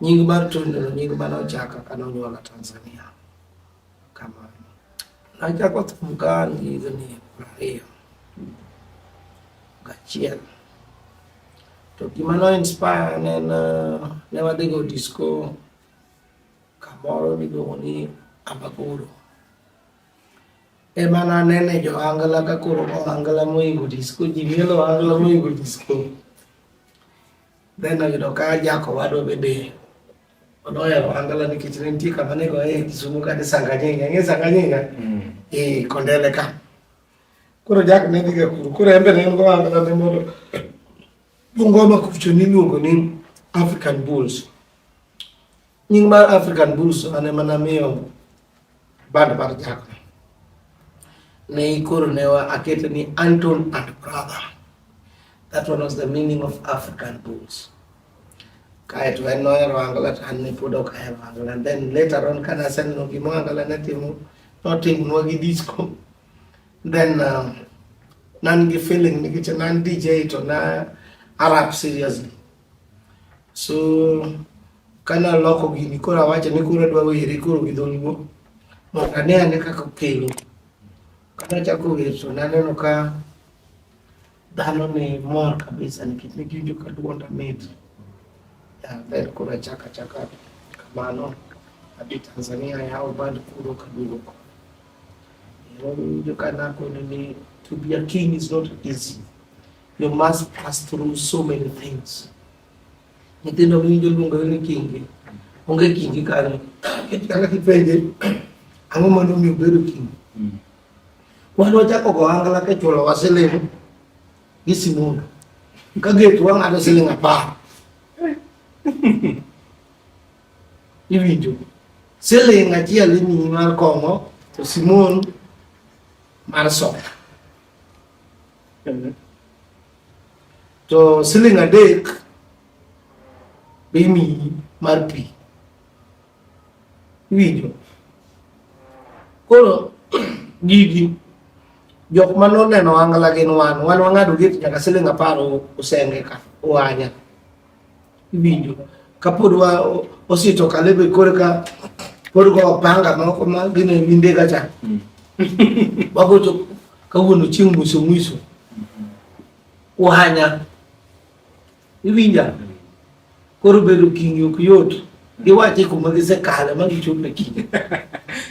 Nying mar Tony no nying mane ochaka kane onyuola Tanzania. Kamano. Nachako thum ka an gi higni prariyo gachiel. To gima no inspire ne en eh, ne wadhi go disco kamoro miluongo ni Amagoro. Ema nanene jo angla ka koro angla moingo disco, ji mielo angla moingo disco. Then ayudo ka jako wadwa bende onohero angala nikech ne nitie kama nego e Kisumu ka ni Sanganyinga, ng'e Sanganyinga? Mm. E Kondele ka. Koro jak ne dhiga kuro, koro embe ne en go angala ne mondo Bungoma kucho niluongo ni African Bulls. Nying mar African Bulls ane mana miyo band mar Jack ne ikoro ne wa akete ni Anton and brother. That one was the meaning of African Bulls. Kae to en nohero Angola to an ne pod ok ahero Angola. And then later on kane aseneno gima Angola ne timo notimonwa gi disco. Then uh, nan gi feeling nikech nan DJ to na arap seriously. So Kane aloko gini koro awacho ni koro adwa were koro gi dholuo mondo ane ane kaka okelo. Kane achako wer to naneno ka dhano ni mor kabisa nikech ne giwinjo ka dwonda mit. Then koro achako achaka kamano adhi Tanzania yawo band kuro kaduogo koni. Nawinjo ka nakono ni to be a king is not easy. You must pass through so many things. nyithindo winjo luongo ni kingi onge kingi kanyo kaka kipenje ang'o ma nomiyo bedo kingi mm. wan wachako go angla ka chulo wa siling gi simundo ka getu wang'ado siling apar iwinjo siling achiel imiyi mar kong'o to simon mar soda to siling adek be imiyi mar pi iwinjo koro gigi jok ma noneno angla gin wan wan wang'ado gate nyaka siling apar osenge ka oanya Iwinjo kapod wa osito kalebe korka pod go panga moko ma gine minde ka cha. Mm. Wagocho kawuono chieng' mwiso mwiso. Uhanya. Iwinja. Koro bedo kingi ok yot. Giwache kuma gisekale ma gichopo e kingi.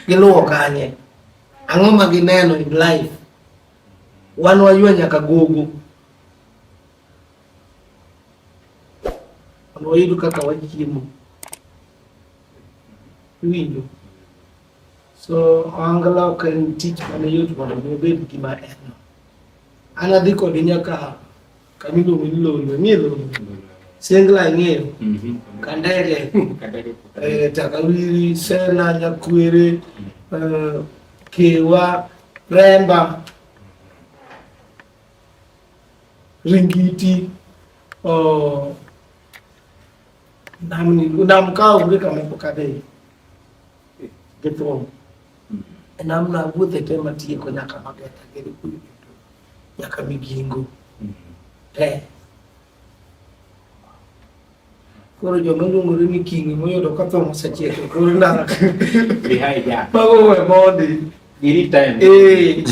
Giluwo kanye. Ang'o ma gineno in life? Wan waywa nyaka gogo. Wayudo kaka wachiemo. Iwinjo? So ohangla ok en tich mane yot mondo mi obed gima en no. An adhi kode nyaka kama iluongo ni Lolwe, ng'e Lolwe? Sengla ang'eyo, Mhm. Kandege, Kandege. eh, Takawiri, Sela, Nyakwere, eh, Kewa, Remba, Ringiti oh, namni nam ka onge kama ipokadhe gi thum e namna wuothe te matieko nyaka mageta gere kuyo duto nyaka migingo te Koro joma luongore ni kingi moyudo ka thong osechiek e kor ndara. Mago we mondi. Girit time. Eh,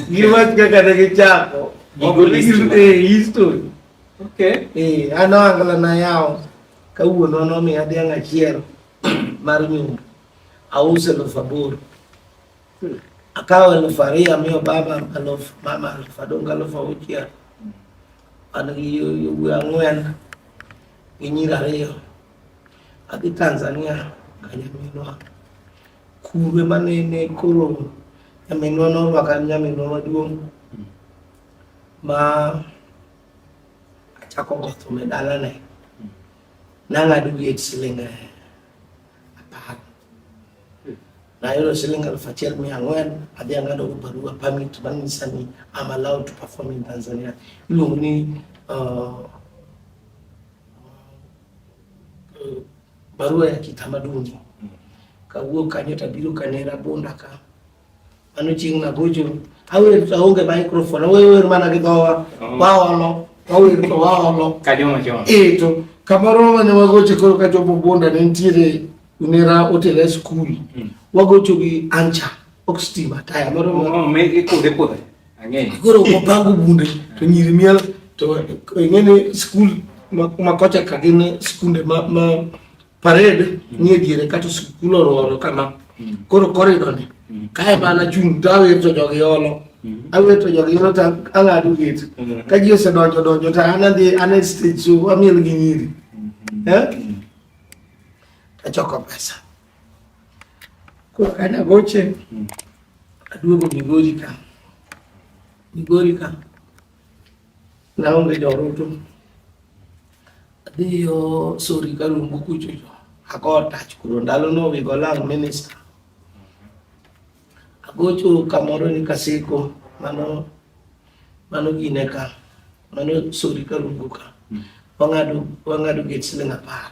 giwach kaka ne gichako. Gigol history. Eh, history. Okay. Eh, an ohangla na yawo kawuono nomiya dhiang' achiel mar nyundo. Auso elfu aboro. Hmm. Akawo elfu ariyo amiyo baba elfu mama elfu adong' elfu auchiel. Ano yowuoyi ang'wen gi nyiri ariyo adhi Tanzania ka nyaminwa kurwe manene koro nyaminwa norwaka nyaminwa maduong' ma achako gotho me dalane nang'ado wiye siling' apar na yolo siling alfu achiel mia ang'wen adhi ang'ado go barua permit manyisa ni I'm allowed to perform in Tanzania. Iluongo ni uh, uh, barua ya kitamaduni. Kawuok kanyo tabiro Kanera Bunda ka Ano ching na gojo. Awer to onge microphone. Awer wer mana gi dhowa. Oh. Waolo. Awer to waolo. Kajoma joma. Eh to kamoro mane wagoche koro ka jomo bonda ne nitiere nera otera e skul. Mm. Wagocho gi ancha. Ok stima taya moro. Oh, me ikode kode. Ang'eyo. Koro wapango bunde to nyiri miel to ing'e ni skul ma kocha ka gin skunde ma ma parade ni e diere kata sikul orworo kama koro korido ni kae mana chung' to awirto jogi olo awirto jogi olo to ang'ado gate ka ji osedonjo donjo to an adhi an e stage so amiel gi nyiri eh? achoko pesa koro kane agoche aduogo migori ka migori ka Naonge joroto. Adhi yo sori ka lumbu kucho jo. Ako tach kuro ndalo no we go lang minister. Agocho kamoro ni kasiko mano mano gine ka. Mano sori ka lumbu ka. Wangado wangado get siling apar.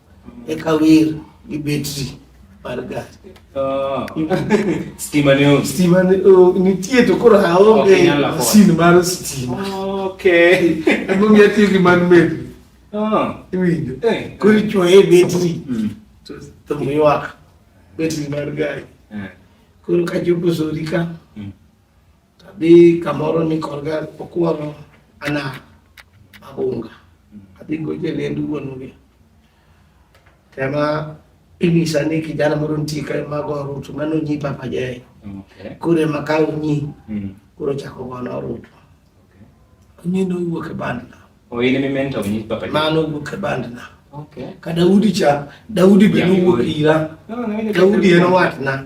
Eka wir gi betri mar gari. Oh. Stima ne onge. Stima ne oh, nitie to koro aonge masin mar stima. Okay. Ebo mi atiyo gi man med. Oh. Iwinjo. Eh. Koro ichuoye betri. Mm. To to miwak betri mar gari. Eh. Koro kachopo sori ka. Mm. Adhi kamoro ni korga okworo ana abunga. Adhi goje lendu wuongi. Tema inyisa ni kijana moro nitie ka mago orutu mano nyi papa jae. Okay. Kure makawo nyi Mm. kuro chako gono orutu. Okay. Nyi nowuok e bandna. Oh, in emi mentor nyi papa. Mano owuok e bandna. Okay. Ka Daudi cha, Daudi be Yeah, nowuok Daudi. ira. No, no, no, Daudi en watna.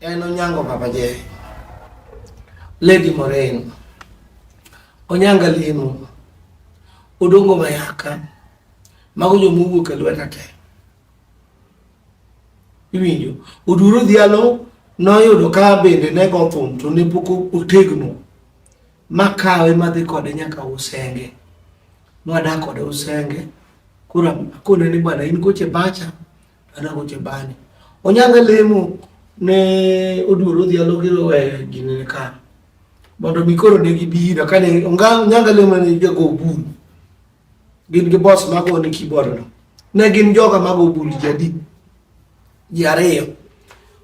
En Onyango Papa J. Lady Moreno. Onyanga Limo. Odongo Mayaka. Mago jo mowuok e lweta te. Iwinjo. Oduro Dhialo noyudo ka bende ne go thum to ne pok otegno. Makawe madhi kode nyaka Usenge. Nwadak kode Usenge. Kura kone ni bwana in koche bacha ana go chebani onyanga lemo ne oduoro dhi alogiro we gine ka mondo mi koro ne gibira kane onga onyanga lemo ne jago bul gin gi boss mago ne keyboard no ne gin joga mago bul jadi ji ariyo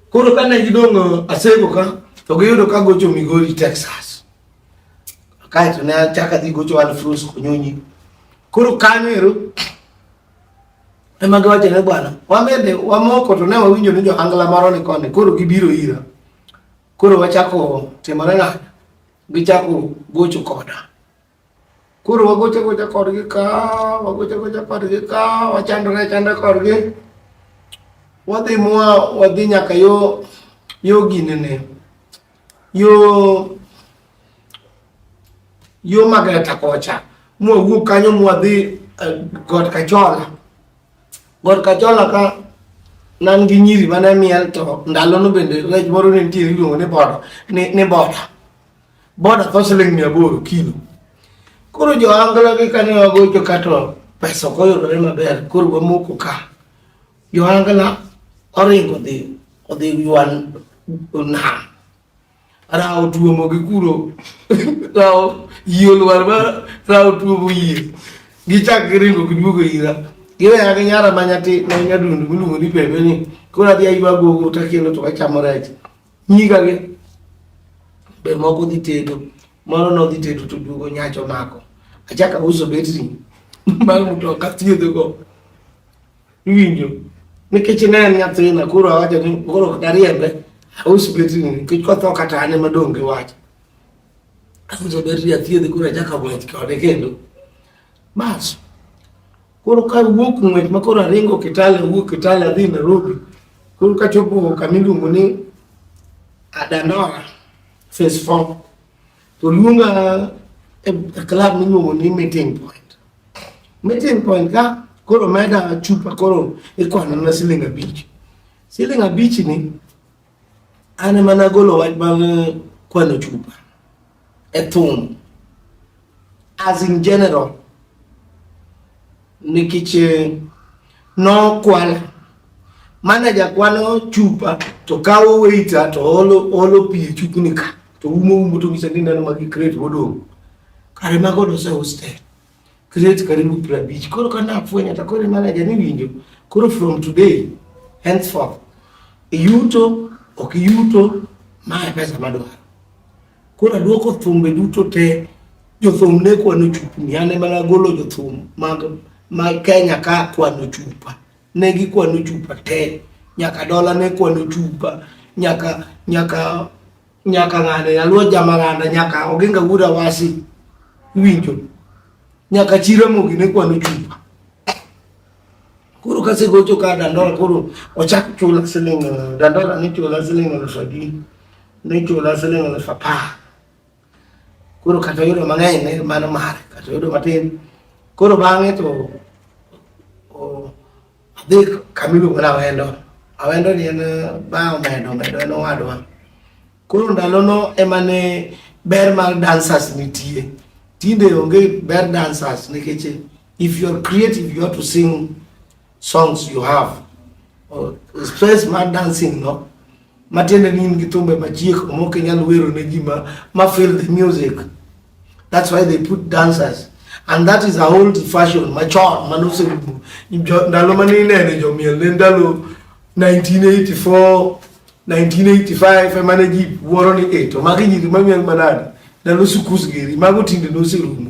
koro kane gidong' asego ka to giyudo ka gocho migori texas kaeto ne achaka dhi gocho alfrus konyonyi koro kanyo ero Ema giwacho ne bwana, wamede wamoko to ne wawinjo ni johangla moro ni koni, koro gibiro ira. Koro wachako timore ng'anyo, gichako gocho koda. Koro wagocho gocha kodgi ka, wagocho gocha kodgi ka, wachandore achanda kodgi. Wadhi mwa wadhi nyaka yo yo ginene. yo yo magreta kocha mwawuok kanyo mwadhi eh, god kachola god kachola ka nan gi nyiri mane miel to ndalono bende rech moro ne nitiere iluongo ni boda ni boda boda tho siling mia aboro kilo koro jo angla gi kane wagocho kato pesa ok oyudore maber koro wamoko ka Yohana kana oringo dhi odhi ywan nam rawo tuomo gi kuro rawo yie olwar ma rawo tuomo yie gichak giringo giduogo ira giweya gi nyara ma nyati ma nyadundu miluongo ni pepe ni koro adhi aywa gogo ta kendo to wachamo rech nyiga gi be moko dhi tedo moro nodhi tedo to duogo nyacho mako achaka uso betri mag mtoka thiedhogo Iwinjo? Nikech ne en nyathina koro awacho ni koro ok dariembe aus betri nikech kotho kata an ema dong' gi wach. Auso betri athiedhe koro achako ng'wech kode kendo. Bas. Koro ka wuok ng'wech ma koro aringo Kitale wuok Kitale adhi Nairobi. Koro kachopo kama iluongo ni Adandora phase 4 To luonga e club miluongo ni meeting point. Meeting point ka koro meda chupa koro ikwano na siling abich. Siling abich ni an ema nagolo wach mag eh, kwano chupa e thum as in general nikech eh, nokwala manaja kwano chupa to kawo weita to olo olo pi e chupni ka to umo umo to ng'isa ni neno magi crate modong' kare mago doseus te crate karibu piero abich koro ka nafwenyo to koro manaja ni winjo koro from today henceforth iyuto ok iyuto ma e pesa madwaro Koro aduoko thumbe duto te jothum ne kwano chupni ane mana golo jothum mag ma Kenya ka kwano chupa ne gikwano chupa te nyaka dola ne kwano chupa nyaka nyaka nyaka ng'ane nyaluo jamang'anda nyaka oginga wuda wasi winjo nyaka chira mogi ne kwano chupa Koro ka segocho ka dandola koro ochak chula siling dandola ni chula siling elfu adi ni chula siling elfu apar koro kata yudo mang'eny ne mano mare kata yudo matin koro bang'e to adhi kamiluongo ni awendo awendo ni en ba omedo omedo en owadwa koro ndalono ema ne ber mar dancers nitie tinde onge ber dancers nikech If you are creative, you have to sing songs you have. Or express my dancing, no? Matiende ni in gi thumbe machiek omok inyal wero ne ji ma ma feel the music. That's why they put dancers. And that is a old fashion machon manose ndalo mane inene jomiel ne ndalo 1984 1985 emane ji wuoro ni eto magi nyiri mamiel manade ndalo sukus geri mago tinde noserumo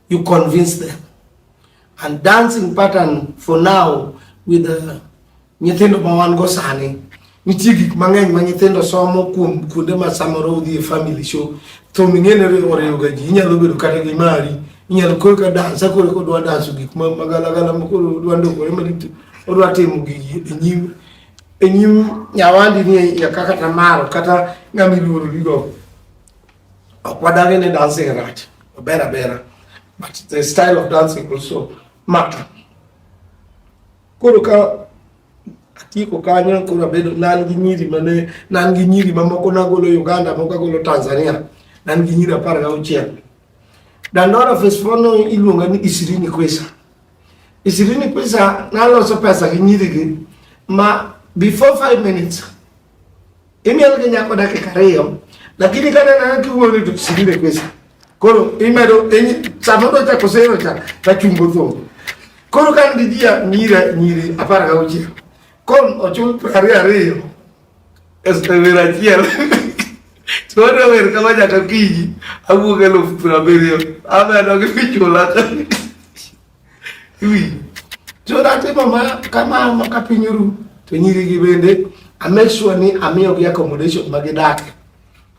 you convince them and dancing pattern for now with the uh, nyithindo ma wan go sani nitie gik mang'eny ma nyithindo somo kuom kuonde ma samoro udhi e family show thum ing'ene oriwoga ji inyalo bedo kata gi mari inyalo koro ka dansa koro kodwa danso gik ma magalagala ma koro odwa ndokore maricho odwa timo gigi e nyim e nyim nyawandi ni ya kaka tamaro kata ng'ama iluoro gigo Okwadagene dancing rach, obera bera. But the style of dancing also matter. Koro ka atieko kanyo koro abedo nan gi nyiri mane nan gi nyiri mamoko nagolo Uganda moko agolo Tanzania nan gi nyiri apar gauchiel dandora fesfono iluonga ni Isirini Kwesa Isirini Kwesa naloso pesa gi nyirigi ma before five minutes Imiel gi nyako dakika ariyo lakini kata nana kiwuoyo to sirire pesa koro imedo sama do chako sero cha ta chungo tho koro kan gi jia nyira nyiri apar ga uchi kon ochul prari ariyo este vera chiel to ro ver kama jaka kiji awuoge lo prabiriyo amedo gi pichula Iwinjo? So natimo ma kamano ka piny oru to nyirigi bende I make sure ni amiyogi accommodation ma gidakie.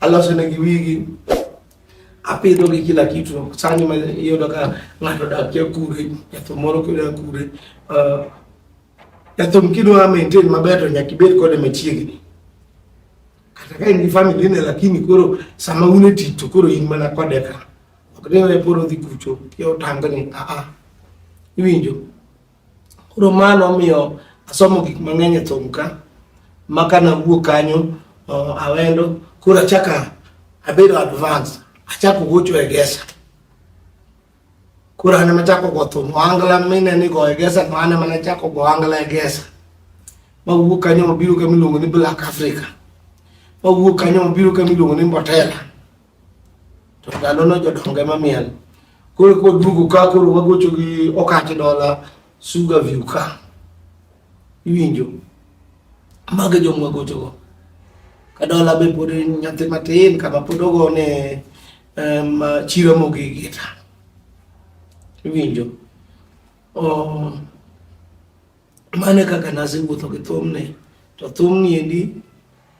Aloso negi wigi, apidhogi kila kitu. Sani ma iyudo ka ng'ato dakie kure, nyathi moro kidwa kure, uh, nyathum kidwa maintain maber to nyaka ibed kode machiegni. Kata ka in gi family ne lakini koro sama un e tich to koro in mana kode ka. ok ni we polo dhi kucho ki otangni a a iwinjo koro mano omiyo asomo gik mang'eny e thum ka ma ka nawuok kanyo uh, awendo koro achaka abedo advance achako gocho e gesa koro an emachako go thum ohangla mine ni go e gesa to an emane chako go ohangla e gesa mawuok kanyo mabiro kama iluongo ni black africa mawuok kanyo mabiro kama iluongo ni mbotela to ndalono jodongo ema miel koro koduogo ka koro wagocho gi okati dola suga view ka iwinjo mago e joma wagochogo ka dola be pod nyathi matin kama pod ogone um, chiro mogigita iwinjo oh, Mane kaka nasewuotho gi thumni to thumni endi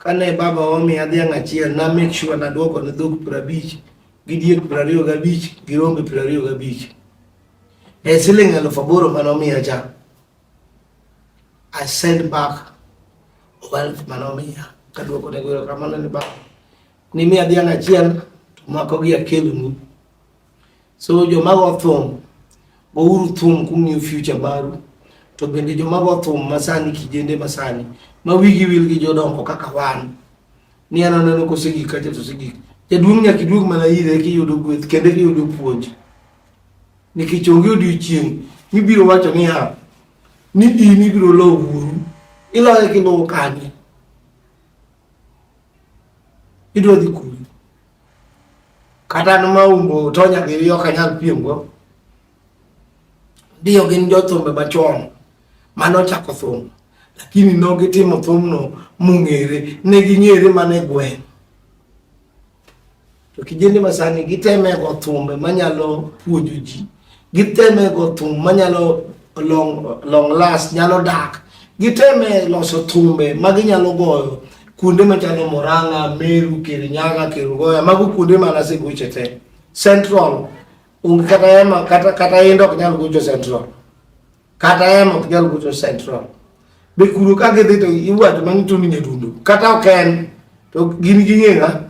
kane baba omiya dhiang' achiel na make sure nadwoko ne dhok piero abich gi diek piero ariyo gabich gi rombe piero ariyo gabich e siling' alufu aboro mane omiya cha I send back wealth mane omiya kadwoko ne goyo kamano ni baba nimiya dhiang' achiel to mako gi akelonu So jomago othum, gouru thum kung'iyo future maru. To bende jomago othum masani kijende masani ma wigi wil gi jodongo kaka wan ni an aneno kosegik kacha to osegik. Jaduong' nyaka iduog mana ire eka iyudo gweth kendo eka iyudo puonj. Nikech onge odiochieng' mibiro wacho niya ni in ibiro lowo wuoru iloye kiluwo kanye idwa dhi kure kata an maumbo to nyagiriyo ok anyal piemgo ndio gin jothumbe machon mane ochako thum lakini nogitimo thumno mong'ere ne ging'ere mana e gweng' to kijende masani giteme go thumbe manyalo puonjo ji Giteme go thum manyalo long, long last nyalo dak. Giteme loso thumbe ma ginyalo goyo kuonde machalo Murang'a, Meru, Kirinyaga, Kerugoya, mago kuonde ma nasegoche te. Central onge kata ema kata kata yendo ok nyal gocho Central. Kata ema ok nyal gocho Central. Be kuro ka gidhi to iwacho mang'ito ni nyadundo. Kata ok en to gin ging'e ng'a?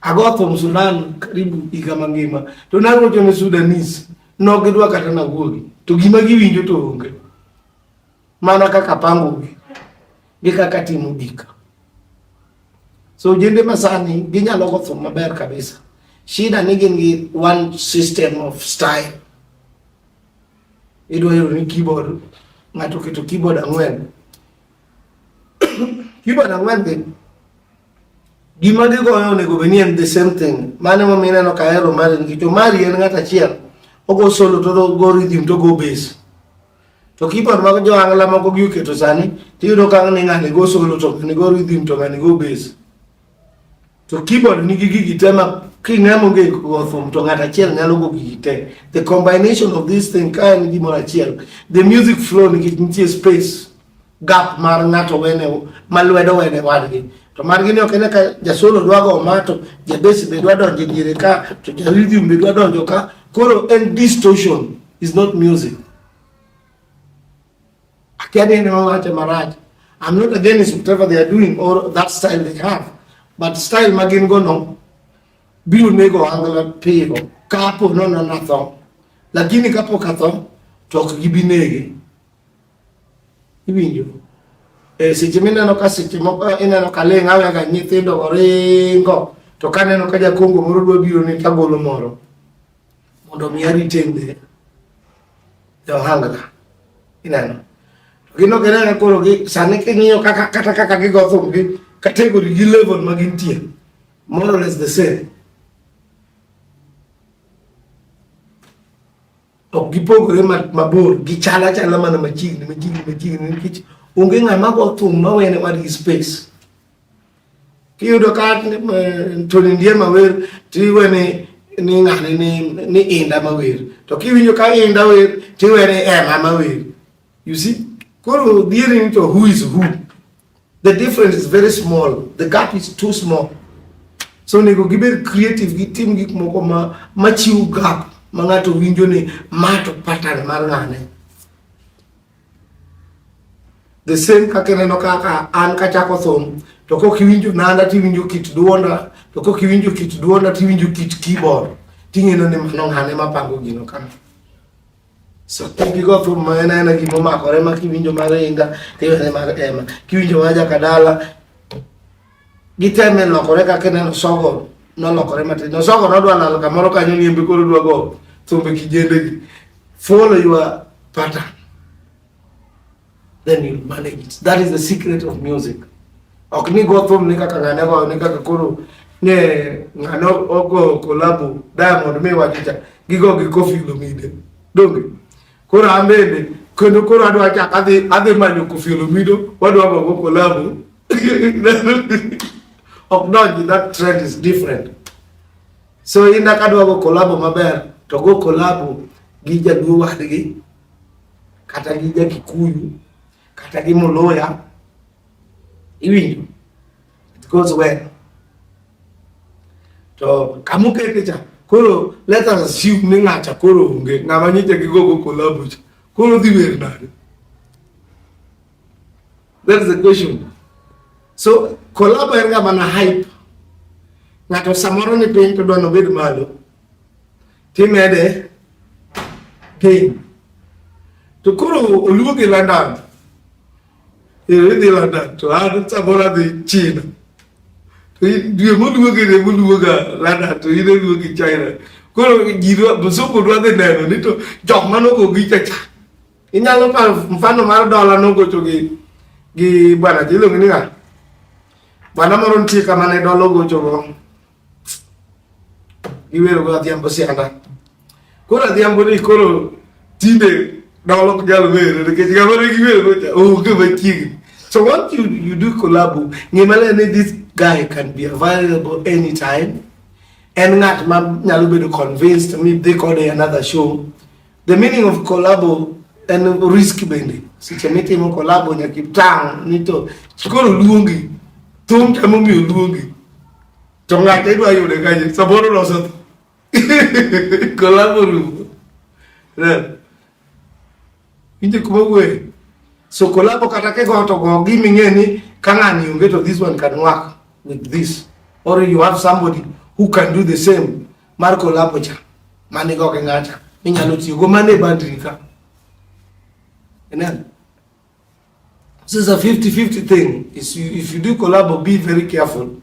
Agotho Msudan karibu higa mangima to narocho ne Sudanese nok gidwa kata nawuogi to gima giwinjo to onge mana kaka pangogi gi kaka timo gik so jende masani ginyalo gotho maber kabisa shida ni gin gi one system of style idwa yudo ni keyboard ng'ato keto keyboard ang'wen keyboard ang'wen gi Gima gigoyo onego bed ni en the same thing. Mane ma mineno ka hero mari nikech omari en ng'at achiel. Ogo solo to ogo rhythm to ogo bass. To keyboard mag jo angla moko gi oketo sani tiyudo ka ng'ani ng'ani go solo to ng'ani go rhythm to ng'ani go bass. To keyboard nigi gigi te ma king'ama onge go thum to ng'at achiel nyalo go gigi te. The combination of this thing ka en gimoro achiel. The music flow nikech nitie space. gap mar ng'ato wene ma lwedo wene wadgi to margi ni ok ene ka jasolo dwa go ma to jabesi be dwa donjo diere ka to jarhythm be dwa donjo ka koro en distortion is not music akia ni en wache marach I'm not against whatever they are doing or that style they have but style ma gin go no biro nego angla piyo kapo nono natho lakini kapok atho to ok gibi nege Iwinjo? E seche mineno ka seche moko eh, ineno ka ling' awe ga nyithindo oringo to kaneno ka jakongo moro dwa biro ni tagolo moro mondo mi aritende johangla ineno gino ginene koro gi sani king'iyo kaka kata kaka gigo thum gi category gi level ma gintie more or less the same ok gipogore mabor gichal achala mana machiegni machiegni machiegni nikech onge ng'ama go thum mawene wadgi space kiyudo ka Tony Ndiema wer tiwe ni ni ng'ane ni ni inda mawer to kiwinjo ka inda wer tiwe ni ema mawer you see koro dhieri ni to who is who The difference is very small. The gap is too small. So nego giber creative gi tim gik moko ma machiw gap ma ng'ato winjo ni mato pattern mar ng'ane. The same kaka neno kaka an kachako thum to kok iwinjo nanda tiwinjo kit duonda to kok iwinjo kit duonda tiwinjo kit keyboard ting'eno ni mano ng'ane mapango gino kama. Sotigigo thum ma en aena gima omakore ma kiwinjo mar inga tiwene mag ema kiwinjo ma jakadala giteme lokore kaka ineno sogo nolokore matin no sogo nodwa lal kamoro kanyo ni embe koro dwa go thumbe kijendegi follow your pattern then you manage it. That is the secret of music. Ok ni go thum ni kaka ngane go ni kaka kuru ne ngano ogo kolabu Diamond me wachicha gigo gi Koffi Olomide. Donge. Koro ambende kendo koro adwa chak adhi adhi manyo Koffi Olomide wadwa go kolabu. Ok donji that trend is different. So inda kadwa go kolabu maber to go kolabu gi jaduo wadgi kata gi ja Kikuyu kata gi Muluya iwinjo it goes well to kamukete cha koro let us assume ni ng'acha koro onge ng'ama nyicha gi gogo collabo cha koro dhi wer nade that is the question so collabo en ga mana hype ng'ato samoro ni piny to dwa nobed malo Timede piny. To koro oluo gi London. Ero idhi London to an samoro adhi China. To dwe moluo gi ne moluo ga London to in oluo gi China. Koro ji msungu dwa dhi neno ni to jok manogo gi chacha. Inyalo paro mfano mar dola nogocho gi gi bwana jiluongo ni ng'a? Bwana moro nitie kama ne dola ogochogo. iwero go adhiambo sianda koro adhiambo ni koro tinde dolo nyalo wero nikech ng'ama ne giwero gocha onge machiegni so what you, you do collabo ng'ima le ni this guy can be available anytime en ng'at ma nyalo bedo convinced mi dhi kode another show The meaning of collabo en risk bende. Seche mitimo collabo nyaka itang' ni to koro luongi, thum to emomiyo luongi. To ng'ato idwa yude kanye, samoro loso collabo rumo. Inje kuma wuoye. So collabo kata kigo to go gi ming'e ni ka ng'ani onge to this one can work with this. Or you have somebody who can do the same. mar kolapo cha mani go gi ng'acha minyalo tiyo go mane bandri ka Amen. This is a 50-50 thing. If you, if you do collabo, be very careful.